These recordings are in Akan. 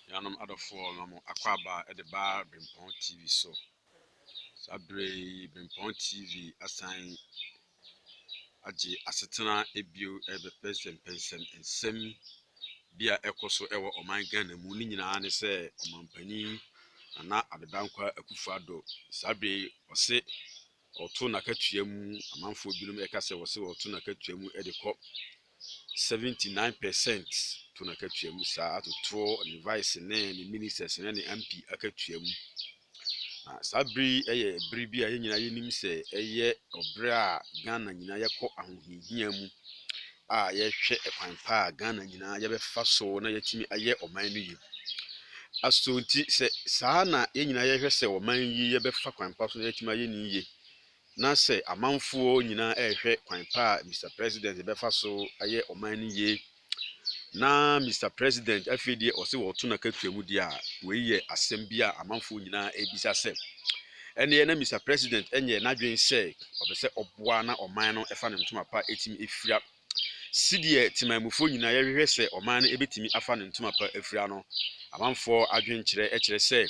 Nuanom adɔfoɔ na mo akɔ aba de ba Brempɔn TV so. Saa berɛ yi Brempɔn TV asan agye asetena bio rebɛpɛ nsɛmpɛnsɛm nsɛm bi a ɛkɔ so wɔ ɔman Ghana mu ne nyinaa ne sɛ ɔmampanin Nana Addo Dankwa Akufo-Addo saa berɛ yi ɔse Ɔto n'akatua mu, amanfoɔ binom ɛka sɛ wɔse ɔto n'akatua mu de kɔ 79 per cent to n'akatua mu saa atotoɔ ne vice ne ne ministers ne ne MP akatua mu. Na saa bere yi yɛ bere bi a yɛn nyinaa yɛnim sɛ ɛyɛ ɔbere a Ghana nyinaa yɛkɔ ahohiahia mu. a yɛhwɛ kwan pa a Ghana nyinaa yɛbɛfa so na yɛatumi ayɛ ɔman no yie. Asonti sɛ saa na yɛn nyinaa yɛhwɛ sɛ ɔman yi yɛbɛfa kwan pa so na yɛatumi ayɛ ne yie, na sɛ amanfoɔ nyinaa ɛrehwɛ kwan pa a Mr President yɛbɛfa so ayɛ ɔman no yie, na Mr President afei deɛ ɔse wɔto n'akatua mu deɛ a, wei yɛ asɛm bi a amanfoɔ nyinaa ɛrebisa sɛ Ɛnneɛ na Mister President nyɛɛ n'adwene sɛ ɔpɛ sɛ ɔboa na ɔman no fa ne ntoma pa tumi fira. Sedeɛ temanmufoɔ nyinaa yɛhwehwɛ sɛ ɔman no bɛtumi afa ne ntoma pa afira no, amanfoɔ adwenkyerɛ kyerɛ sɛ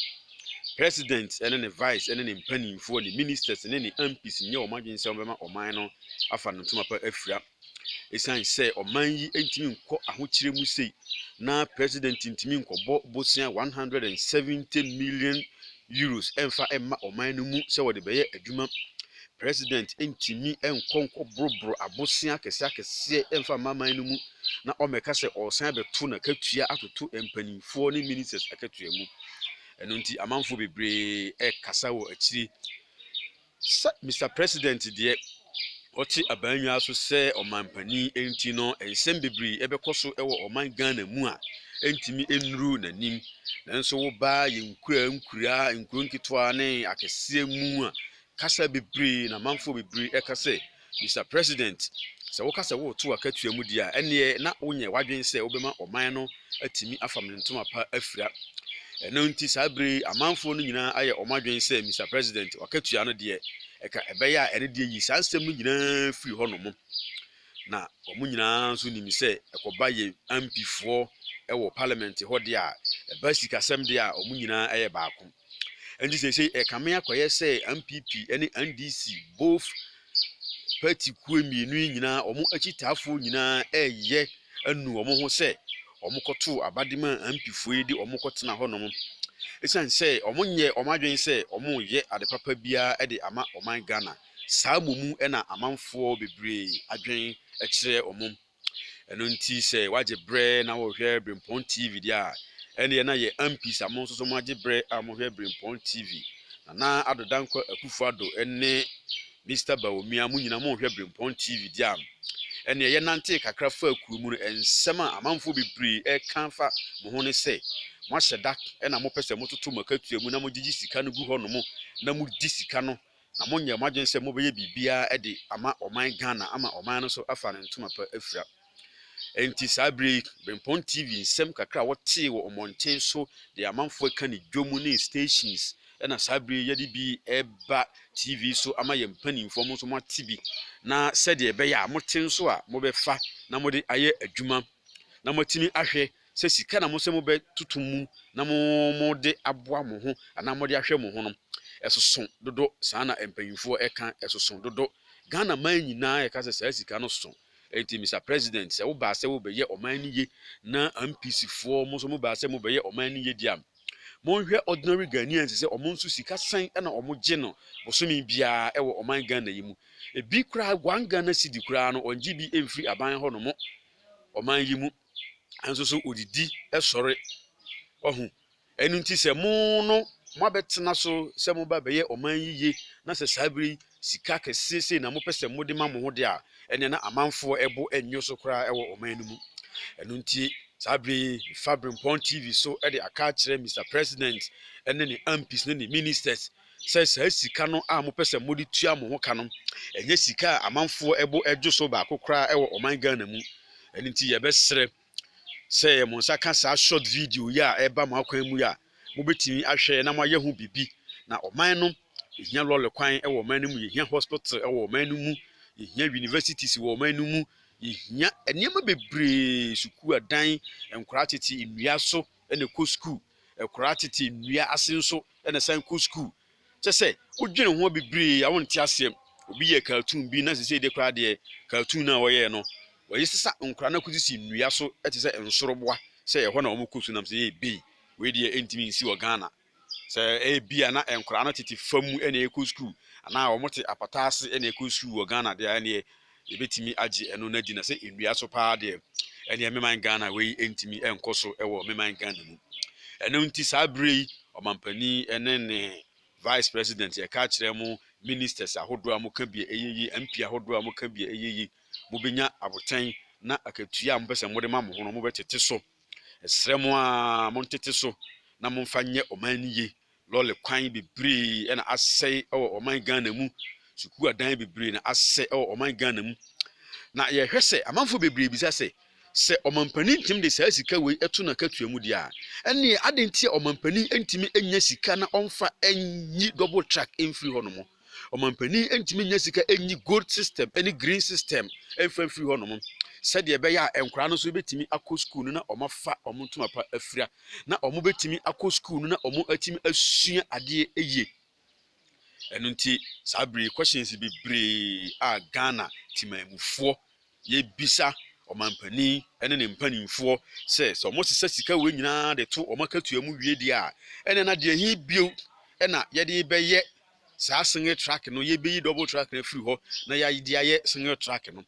President ne ne Vice ne ne mpaninfoɔ, ne Ministers ne ne MPs nyɛ wɔn adwene sɛ wɔbɛma ɔman no afa ne ntoma pa afira. Esiane sɛ ɔman yi ntumi nkɔ ahokyere mu sei na president ntumi nkɔbɔ bosea 170 million euros ɛmfa mma ɔman no mu sɛ wɔde bɛyɛ adwuma. President ntumi nkɔ nkɔboroboro abosea akɛseɛ akɛseɛ ɛmfa mma man no mu na ɔmmɛka sɛ ɔresan abɛto n'akatua atoto mpanimfoɔ ne ministers akatua mu. Ɛno nti amanfoɔ bebree ɛkasa wɔ akyire Sɛ Mister President deɛ ɔte abannwaa so sɛ ɔmanpanin nti no nsɛm bebree ɛbɛkɔ so wɔ ɔman Ghana mu a ɛntumi nnuru n'anim. Nanso woba yɛn nkuraa nkuraa, nkuro nketewa ne akɛseɛ mu a, kasa bebree na amanfoɔ bebree ɛka sɛ, Mister President, sɛ woka sɛ woreto akatua mu di a, ɛnneɛ na wonyɛ w'adwene sɛ wobɛma ɔman no atumi afam ne ntoma pa afira. Ɛno nti saa berɛ yi amanfoɔ no nyinaa ayɛ wɔn adwene sɛ Mister President, w'akatua no deɛ, ɛka ɛbɛyɛ a ɛne deɛ yi saa nsɛm no nyinaa firi hɔ nom. Na wɔn nyinaa nso nim sɛ ɛkɔba yɛn MPfoɔ wɔ Parliament hɔ deɛ a, ɛba sikasɛm deɛ a, wɔn nyinaa yɛ baako. Ɛnti seesei ɛkame akɔyɛ sɛ NPP ne NDC both party kuo mmienu yi nyinaa wɔn akyitaafoɔ nyinaa ɛreyɛ anu wɔn ho sɛ wɔkɔtoo abade maa NPPfoɔ yi de wɔn kɔtena hɔnom. Ɛsiane sɛ wɔnyɛ wɔn adwene sɛ wɔreyɛ ade papa biara de ama ɔman Ghana. Saa mmom na amanfoɔ bebree adwene kyerɛ wɔn. Ɛno nti sɛ wagye berɛ na wɔhwɛ Brempɔn TV deɛ a, ɛneɛ na yɛ Ampis a mo nso so moagye berɛ a mohwɛ Brempɔn TV. Nana Addo Dankwa Akufo Addo ne Mister Bawumia mo nyina mohwɛ Brempɔn TV deɛ a, ɛneɛ yɛnantee kakra faa kuo mu no, nsɛm a amanfoɔ bebree ɛreka fa mo ho ne sɛ, moahyɛ da na mopɛ sɛ mototo mo akatua mu na mogyegye sika no gu hɔ nom na modi sika no na monyɛ mo adwene sɛ mobɛyɛ biribiara de ama ɔman Ghana ama ɔman no nso afa ne ntoma pa afira. Enti saa berɛ yi, Berempɔn TV nsɛm kakra a wɔtee wɔ mmɔnten so de amanfoɔ reka ne dwom ne stations na saa berɛ yi yɛde bi reba TV so ama yɛn mpanimfoɔ mo nso moate bi na sɛdeɛ ɛbɛyɛ a mote nso a mobɛfa na mode ayɛ adwuma na moatumi ahwɛ Sɛ sika na mosɛ mobɛtoto mu na mode aboa mo ho anaa mode ahwɛ mo ho no, ɛsoso dodo, saa na mpanyimfoɔ ɛka, ɛsoso dodo. Ghana man nyinaa ɛka sɛ saa sika no soso. Ɛnti Mister President, sɛ wobaa sɛ wobɛyɛ ɔman no ye na MPs foɔ mo nso mobaa sɛ mobɛyɛ ɔman no ye deɛ a, monhwɛ ordinary Ghanaians sɛ wɔn nso sika sɛn na wɔn gye no bosome biara ɛwɔ ɔman Ghana yi mu. Ɛbi koraa one Ghana cedi koraa no wɔn gye bi ɛmfiri aban hɔ nom ɔman yi mu. nso so odidi sɔre. Wahu? Ɛno nti sɛ mo no moabɛtena so sɛ moba bɛyɛ ɔman yiye na sɛ saa bere yi sika kɛse sei na mopɛ sɛ mode ma mo ho de a, ɛnneɛ na amanfoɔ bo nnwo so koraa wɔ ɔman no mu. Ɛno nti saa bere yi mefa Berempɔn TV so de aka akyerɛ Mister President ne ne MPs ne ne Ministers sɛ saa sika no a mopɛ sɛ mode tua mo ho ka no, ɛnyɛ sika a amanfoɔ bo dwo so baako koraa wɔ ɔman Ghana mu. Ɛno nti yɛbɛsrɛ sɛ mo nsa ka saa short video yi a ɛreba mo akwan mu yi a, mobɛtumi ahwɛ na moayɛ ho biribi. Na ɔman no, yɛhia lɔre kwan wɔ ɔman no mu, yɛhia hospital wɔ ɔman no mu, yɛhia universities wɔ ɔman no mu, yɛhia nneɛma bebree, sukuu adan, nkwadaa tete nnua so, na ɛkɔ sukuu. Akwadaa tete nnua ase nso na ɛsan kɔ sukuu. Kyerɛ sɛ, wodwene ho bebree a wonte aseɛ. Obi yɛɛ cartoon bi na seesei deɛ koraa deɛ, cartoon no a ɔyɛeɛ no, wɔde sesa nkwadaa no kɔsisi nnua so te sɛ nsoroboa sɛ ɛhɔ na wɔkɔ sukuu nam sɛ, Ei, wei deɛ ɛntumi nsi wɔ Ghana. Sɛ ebia na nkwadaa no tete fam na ɛrekɔ sukuu anaa wɔte apata ase na ɛrekɔ sukuu wɔ Ghana deɛ a, ɛnneɛ yɛbɛtumi agye ɛno no adi. Na sɛ nnua so paa deɛ, ɛnneɛ meman Ghana wei ntumi nkɔ so wɔ meman Ghana mu. Ɛno nti saa berɛ yi, ɔmampanin ne ne vice president yɛka kyerɛ mo ministers ahodoɔ a moka bia ɛyɛ yi, MP ahodoɔ a moka bia ɛyɛ yi, mobɛnya abotɛn na akatua a mopɛ sɛ mode ma mo ho no mobɛtete so. Ɛsrɛ mo aa montete so na momfa nyɛ ɔman no ye, lɔle kwan bebree na asɛe wɔ ɔman Ghana mu, sukuu adan bebree na asɛ wɔ ɔman Ghana mu. Na yɛhwɛ sɛ amanfoɔ bebree bisa sɛ, sɛ ɔmampanin ntumi de saa sika wei to n'akatua mu deɛ a, ɛnneɛ adɛn nti a ɔmampanin ntumi nya sika na ɔmfa nyi double track mfiri hɔnom? ɔmampanin ntumi nya sika nyi gold system ne green system mfa mfiri hɔnom sɛdeɛ ɛbɛyɛ a nkwadaa no nso bɛtumi akɔ sukuu no na wɔafa wɔn ntoma pa afira na wɔbɛtumi akɔ sukuu no na wɔatumi asua adeɛ yie ɛno nti saa bere questions bebree a ghana timanmufoɔ Yɛbisa ɔmanpanin ne ne mpanimfoɔ sɛ, sɛ wɔsesa sika wei nyinaa de to wɔn akatua mu wie deɛ a, ɛnneɛ na deɛ he bio na yɛde rebɛyɛ saa single track no? Yɛbɛyi double track no afiri hɔ na yɛde ayɛ single track no.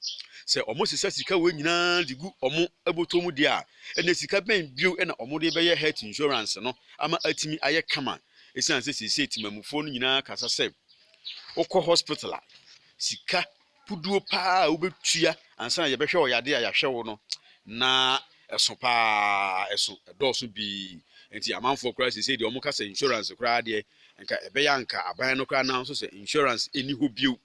Sɛ wɔsesa sika wei nyinaa de gu wɔn bɔtɔ mu deɛ a, ɛnneɛ sika bɛn bio na wɔde rebɛyɛ health insurance no ama atumi ayɛ kama? Ɛsiane sɛ seesei temamufoɔ no nyinaa kasa sɛ wokɔ hospital a, sika puduo paa a wobɛtua ansa na yɛbɛhwɛ ɔyade a yɛahwɛ wo no na ɛso paa ɛso ɛdɔɔso pii nti amanfoɔ koraa sesei deɛ wɔka sɛ insurance koraa deɛ nka ɛbɛyɛ anka aban no koraa nanso sɛ insurance ɛni hɔ bio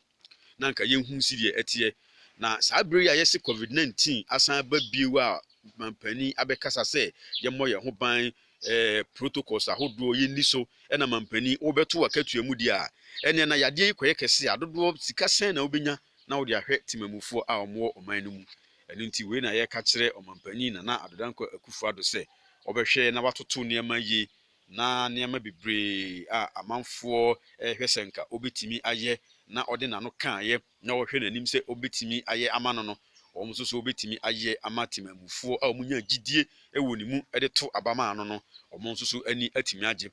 na nka yɛnhu si deɛ ɛteɛ na saa berɛ yi a yɛse covid-19 asan ba bio a mampanin abɛkasa sɛ yɛmmɔ yɛn ho ban eh, protocols ahodoɔ yɛnni so na mampanin wobɛto w'akatua mu deɛ a, ɛneɛ na yadeɛ yi kɔyɛ kɛse a dodoɔ sika sɛn na wobɛnya na wode ahwɛ temamufoɔ a wɔwɔ ɔman no mu. Ɛno nti wei na yɛreka kyerɛ ɔmampanin Nana Addo Dankwa Akufo-Addo sɛ wɔbɛhwɛ na watoto nneɛma yie na nneɛma bebree a amanfoɔ rehwɛ sɛ nka ɔbɛtumi ayɛ na ɔde n'ano kaeɛ na wɔhwɛ n'anim sɛ obetumi ayɛ ama no no, wɔn nso so betumi ayɛ ama temammufoɔ a wɔnya gyidie wɔ ne mu de to aba maa no no, wɔn nso so ani atumi agye.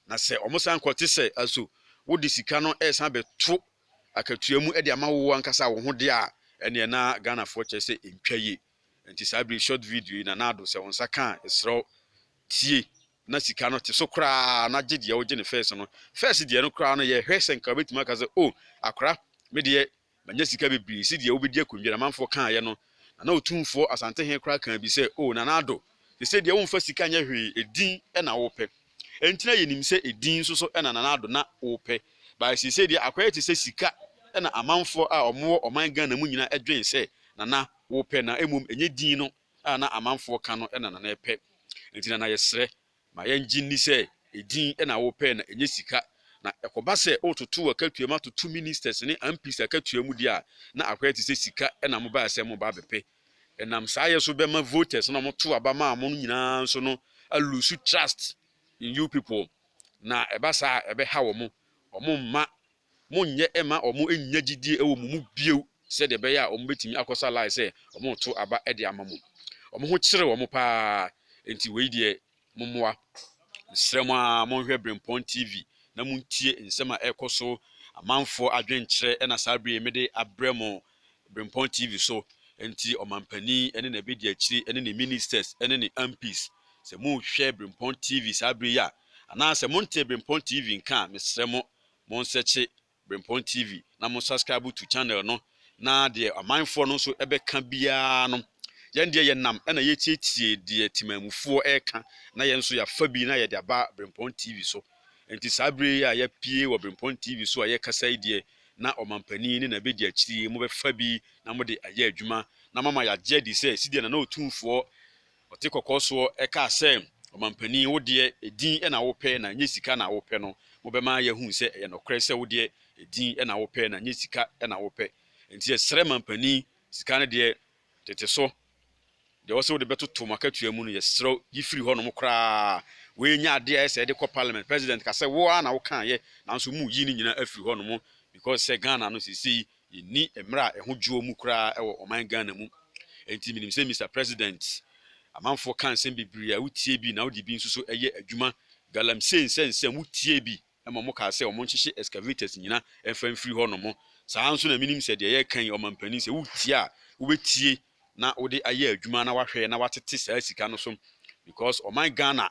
Na sɛ wɔsan kɔ te sɛ, So wode sika no resan abɛto akatua mu de ama wo ankasa wo ho deɛ a, ɛnneɛ na Ghanafoɔ kyerɛ sɛ ɛntwa yie. Nti saa bere yi short video yi na na ado sɛ wo nsa ka a ɛserɛw tie na sika no te so koraa na gye deɛ wogye no first no first deɛ no koraa no yɛhwɛ sɛ nka wobɛtumi aka sɛ oh akora me deɛ manya sika bebree si deɛ wobɛdi akonnwa na manfoɔ kaayɛ no na na otumfoɔ asante he koraa kaa bi sɛ oh na na ado te sɛ deɛ womfa sika nyɛ hwee edin ɛna wopɛ ɛnti na yɛnim sɛ edin nso so ɛna na ado na wopɛ bae sɛ sɛ deɛ akɔyɛ te sɛ sika ɛna amanfoɔ a ɔmowɔ ɔman Ghana mu nyinaa ɛdwen sɛ na na wo pɛ na mmom ɛnyɛ din no a na amanfoɔ ka no na na na ɛpɛ. Enti na na yɛsrɛ, ma yɛngye nni sɛ ɛdin na wo pɛ na ɛnyɛ sika. Na ɛkɔba sɛ wototo w'akatua mu atoto ministers ne MPs akatua mu deɛ a, na akɔyɛ te sɛ sika na mobaeɛ sɛ moreba abɛpɛ. Ɛnam saa yɛ so bɛma voters no a wɔtoo aba maa mo no nyinaa nso no a lose trust in you people. Na ɛba saa a ɛbɛha wɔn, wɔmma Monnyɛ mma wɔnnya gyidie wɔ mo mu bio sɛdeɛ ɛbɛyɛ a wɔbɛtumi akɔsa lie sɛ wɔreto aba de ama mo. Wɔn ho kyere wɔn pa ara. Enti wei deɛ, mommoa. Mesrɛ mo ara monhwɛ Berempɔn TV na montie nsɛm a ɛrekɔ so, amanfoɔ adwenkyerɛ na saa berɛ yi mede abrɛ mo Berempɔn TV so. Enti Ɔmampanin ne n'abɛdiakyire ne ne Ministers ne ne MPs, sɛ morehwɛ Berempɔn TV saa berɛ yi a, anaasɛ montee Berempɔn TV nka a, mesrɛ mo Monsɛkye Brempɔn TV na mo subscribe to channel no na deɛ amanfoɔ no nso bɛka biara no yɛn deɛ yɛnam na yɛtietie deɛ Temanmufoɔ reka na yɛn nso yɛafa bi na yɛde aba Brempɔn TV so. Nti saa berɛ yi a yɛapue wɔ Brempɔn TV so a yɛrekasa yi deɛ na Ɔmampanin ne n'abɛdiakyiri yi mobɛfa bi na mode ayɛ adwuma na moama yɛagye adi sɛ sideɛ Nana Otumfoɔ Ɔte kɔkɔɔ soɔ kaa sɛ, Ɔmampanin, wo deɛ edin na wopɛ na ɛnyɛ sika na wopɛ no, mobɛma yɛahunu sɛ ɛyɛ nokorɛ sɛ wo deɛ edin na wopɛ na ɛnyɛ sika na wopɛ. Enti yɛsrɛ mampanin, sika no deɛ, tete so. Deɛ ɛwɔ sɛ wode bɛtoto mo akatua mu no, yɛsrɛ wo, yi firi hɔnom koraa. Wei nyɛ adeɛ a ɛyɛ sɛ yɛde kɔ Parliament. President ka sɛ, wo ara na wokaeɛ, nanso moreyi ne nyinaa afiri hɔnom, because sɛ Ghana no seesei Yɛnni mmerɛ a ɛho dwoɔ mu koraa wɔ ɔman Ghana mu. Enti menim sɛ Mister President, amanfoɔ ka nsɛm bebree a wotie bi na wode bi nso so yɛ adwuma. Galamsey nsɛnsɛm, wotiee bi ma wɔkaa sɛ wɔnhyehye excavators nyina mfa mfiri hɔ nom. Saa ara nso na menim sɛ deɛ yɛreka yi, ɔmanpanin, sɛ wotie a, wobɛtie na wode ayɛ adwuma na wahwɛ na watete saa sika no so because ɔman Ghana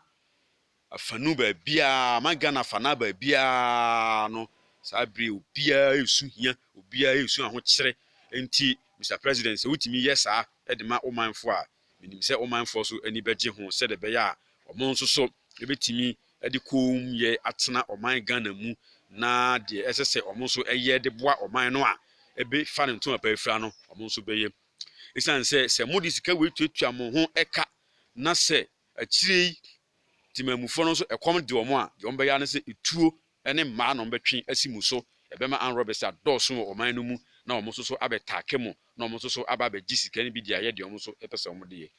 afanu baabiara, ma Ghana afanaa baabiara no, saa bere yi obiara resu hia, obiara resu ahokyere. Enti, Mister President, sɛ wutumi yɛ saa de ma wo manfo a, minim sɛ wo manfo nso ani bɛgye ho sɛnea ɛbɛyɛ a wɔn nso so betumi de kommyɛ atena ɔman Ghana mu na deɛ ɛsɛ sɛ wɔn nso yɛ de boa ɔman no a ɛbɛfa ne ntoma pa afira no, wɔn nso bɛyɛ. Esiane sɛ sɛ mode sika wei tuatua mo ho ka na sɛ akyire yi Temamufoɔ no nso ɛkɔm de wɔn a, deɛ wɔbɛyɛ ara ne sɛ etuo ne mmaa na wɔbɛtwe asi mo so. Ɛbɛma armed robbers adɔɔso wɔ ɔman no mu na wɔn nso so abɛtaake mo na wɔn nso so aba abɛgye sika no bi de ayɛ deɛ wɔn nso pɛ sɛ wɔde yɛ.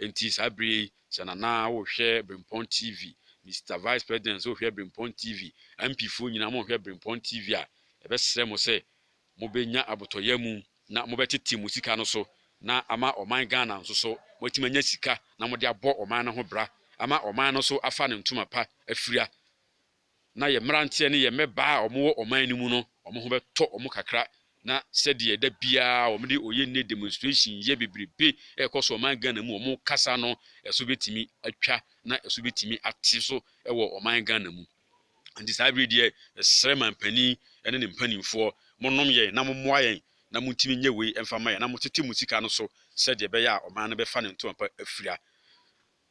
Enti saa bere yi, sɛ Nana wohwɛ Brempɔn TV, Mister Vice President nso hwɛ Brempɔn TV, MPfoɔ nyinaa mohwɛ Brempɔn TV a, yɛbɛsrɛ mo sɛ Mobɛnya abotɔyam mu na mobɛtete mo sika no so na ama ɔman Ghana nso so moatumi anya sika na mode abɔ ɔman no ho bra ama ɔman no nso afa ne ntoma pa afira na yɛn mmeranteɛ ne yɛn mmɛbaa a wɔwɔ ɔman no mu no wɔn ho bɛtɔ wɔn kakra na sɛdeɛ da biara wɔde ɔyɛnne demonstration yɛ bebrebe ɛrekɔ so ɔman Ghana mu wɔn kasa no ɛso bɛtumi atwa na ɛso bɛtumi ate so wɔ ɔman Ghana mu. Enti saa bere yi deɛ, yɛsrɛ manpanin ne ne mpanimfoɔ, monnom yɛn na mommoa yɛn na montumi nyɛ wei mfa mma yɛn, na motete mo sika no so sɛdeɛ ɛbɛyɛ a ɔman no bɛfa ne ntoma pa afira.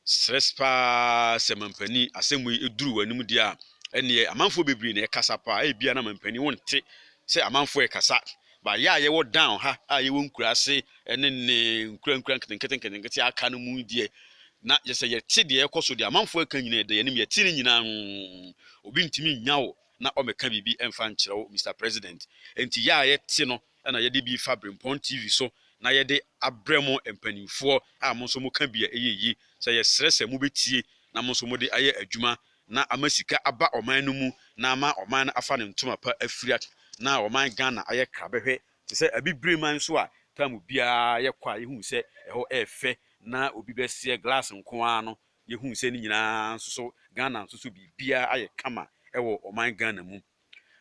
Serɛ pa ara sɛ manpanin, asɛm wei duru w'anom deɛ a, ɛnneɛ amanfoɔ bebree na ɛkasa pa ara, ebia na manpanin wonte sɛ amanfoɔ rekasa, Ba yɛ a yɛwɔ down ha a yɛwɔ nkuraase ne ne nkura nkura nketenkete nketenkete a aka no mu yi deɛ, na yɛsɛ yɛte deɛ ɛkɔ so deɛ amanfoɔ ɛka nyina ɛda yɛnim yɛte ne nyina ho, obi ntumi nnya wo na ɔmɛka biribi ɛmfa nkyerɛ wo Mister President, ɛnti yɛ a yɛte no ɛna yɛde bi fa Brempɔn TV so na yɛde abrɛ mo mpaninfoɔ a mo nso mo ka bi a ɛyɛ yie, sɛ yɛsrɛ sɛ mo bɛtie na mo nso mode ayɛ adwuma na ama sika aba ɔman no mu na ama ɔman no afa ne ntoma pa afira na ɔman Ghana ayɛ krabɛhwɛ te sɛ Abibire man so a taamu biara yɛkɔ a yɛhu sɛ ɛhɔ yɛ fɛ na obi bɛseɛ glass nko ara no yɛhu sɛ ne nyinaa nso so Ghana nso so biribiara ayɛ kama wɔ ɔman Ghana mu.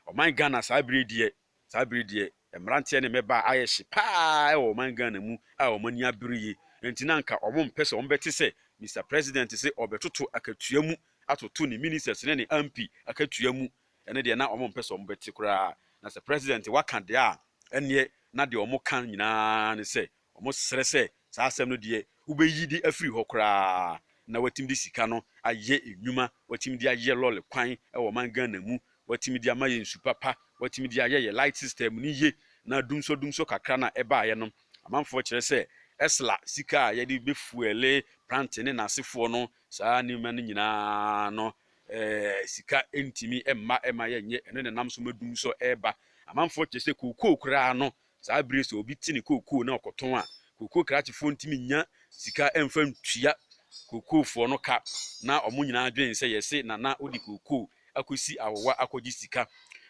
Ɔman Ghana saa bere yi deɛ. Saa bere yi deɛ, mmeranteɛ ne mmabaa ayɛ hye pa ara wɔ ɔman Ghana mu a wɔn ani abere yie. Enti na anka wɔmpɛ sɛ wɔbɛte sɛ Mister President se ɔrebɛtoto akatua mu atoto ne Ministers ne ne MP akatua mu. Ɛno deɛ na wɔmpɛ sɛ wɔbɛte koraa. Na sɛ President waka deɛ a, ɛnneɛ na deɛ wɔka nyinaa ne sɛ Wɔsrɛ sɛ saa asɛm no deɛ wobɛyi de afiri hɔ koraa na watumi de sika no ayɛ nnwuma, watumi de ayɛ lɔre kwan wɔ ɔman Ghana mu, watumi de ama yɛn nsu papa, watumi de ayɛ yɛn light system no yie na dumsɔ dumsɔ kakra no a ɛbaeɛ no amanfoɔ kyerɛ sɛ ɛsla sika a yɛde bɛfuɛle Prante ne n'asefoɔ no saa nneɛma no nyinaa no eh, sika ntumi mma ɛma yɛnyɛ ɛno na ɛnam so ma dumsɔ ɛreba amanfoɔ kyerɛ sɛ kookoo koraa no Saa bere yi sɛ obi te ne kookoo na ɔkɔtɔn a, kookoo krakyefoɔ ntumi nnya sika mfa ntua kookoofoɔ no ka. Ná wɔn nyinaa dwen sɛ yɛse Nana wode kookoo akɔsi awowa akɔgye sika.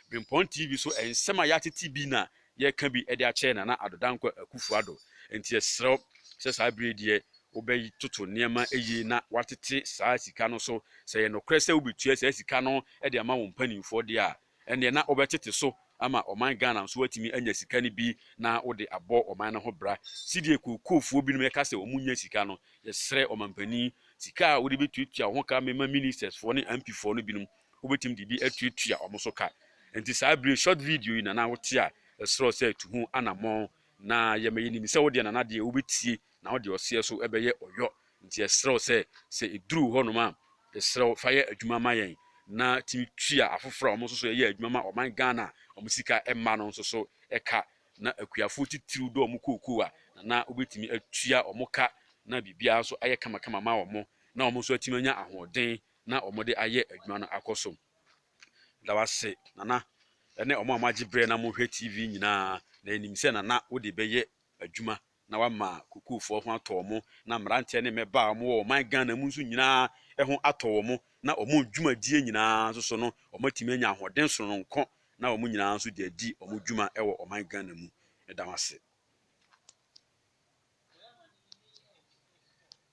Berempɔn TV so nsɛm a yɛatete bi na yɛreka bi de akyerɛ Nana Addo Dankwa Akuffo Addo. Enti yɛsrɛ wo sɛ saa bere yi deɛ wobɛtoto nneɛma yie na woatete saa sika no so. Sɛ ɛyɛ nokorɛ sɛ wobɛtua saa sika no de ama wo mpanimfoɔ deɛ a, Ɛnneɛ na wobɛtete so ama ɔman Ghana nso atumi anya sika no bi na wode abɔ ɔman no ho bra. Sɛdeɛ kookoofoo binom ɛka sɛ wɔn nnya sika no, yɛsrɛ ɔmanpanin, sika a wode bɛtuatua wo ho ka mema ministers foɔ ne MP foɔ no binom, wobɛtumi de bi atuatua wɔn so ka. Nti saa bire short video yi Nana wote a, yɛsrɛ wo sɛ tu ho anammɔn na yɛ ma yɛnim sɛ wodeɛ Nana deɛ wobɛtie na ɔde ɔseɛ so bɛyɛ ɔyɔ. Nti yɛsrɛ wo sɛ, sɛ ɛduru hɔnom a, yɛsrɛ wo fa yɛ adwuma ma yɛn na tumi tua afoforɔ a wɔn nso so yɛ adwuma ma ɔman Ghana a wɔn sika mma no nso so ka. Na akuafoɔ titiriw dɔ wɔn kookoo a, Nana wobɛtumi atua wɔn ka na biribiara nso ayɛ kamakama ma wɔn na wɔn nso atumi anya ahoɔden na wɔde ayɛ adwuma no akɔ so. Meda wo ase Nana ne wɔn a moagye berɛ na mohwɛ TV nyinaa. Na yɛnim sɛ Nana wode bɛyɛ adwuma na wama kukuufoɔ ho atɔ wɔn, na mmeranteɛ ne mmɛbaa a wɔn wɔ ɔman Ghana mu nso nyinaa ho atɔ wɔn, na wɔn dwumadie nyinaa nso so no wɔn atumi anya ahoɔden sononko, na wɔn nyinaa nso de adi wɔn dwuma wɔ ɔman Ghana mu. Meda mo ase.